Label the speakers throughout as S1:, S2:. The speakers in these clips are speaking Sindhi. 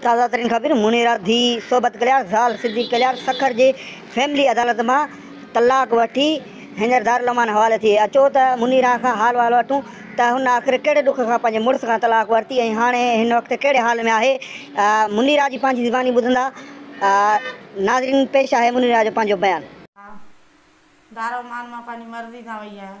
S1: تازه ترين خبرون، منيرا ڌيء صحبت ڪليار زال صديق ڪليار سکر جي فيملي عدالت مان طلاق وٺي هينئر دارالامان حوالي ٿي اچو ته منيرا کان حال وحال وٺون ته هن آخر ڪهڙي ڏک کان پنهنجي مڙس کان طلاق ورتي ۽ هاڻي هن وقت ڪهڙي حال ۾ آهي منيرا جي پنهنجي زباني ٻڌندا ناظرين پيش آهي منيرا جو پنهنجو بيان. مان دارالامان مان پنهنجي
S2: مرضي سان وئي آهيان.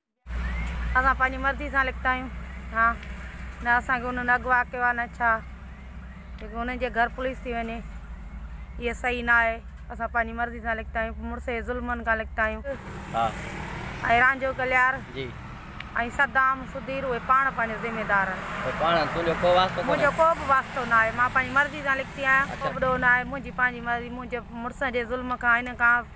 S2: اسان پنهنجي مرضي سان لکتا آهيون ها نه اسان کي انهن اڳ واهه ڪيو آهي نه ڇا جيڪي انهن جي گهر پوليس ٿي وڃي اهي صحيح نه آهي اسان پنهنجي مرضي سان لکتا آهيون مڙس جي ظلمن کان لکتا آهيون ها ۽ رانجهو ڪليار جي
S3: ۽ صدام
S2: سڌير اهي پاڻ پنهنجو ذميدار آهن پاڻ تنهنجو ڪو واسطو منهنجو ڪو به واسطو نه آهي مان پنهنجي مرضي سان لکتي آهيان ڪو به ڏوهه نه آهي منهنجي پنهنجي مرضي منهنجي مڙس جي ظلم کان هن کان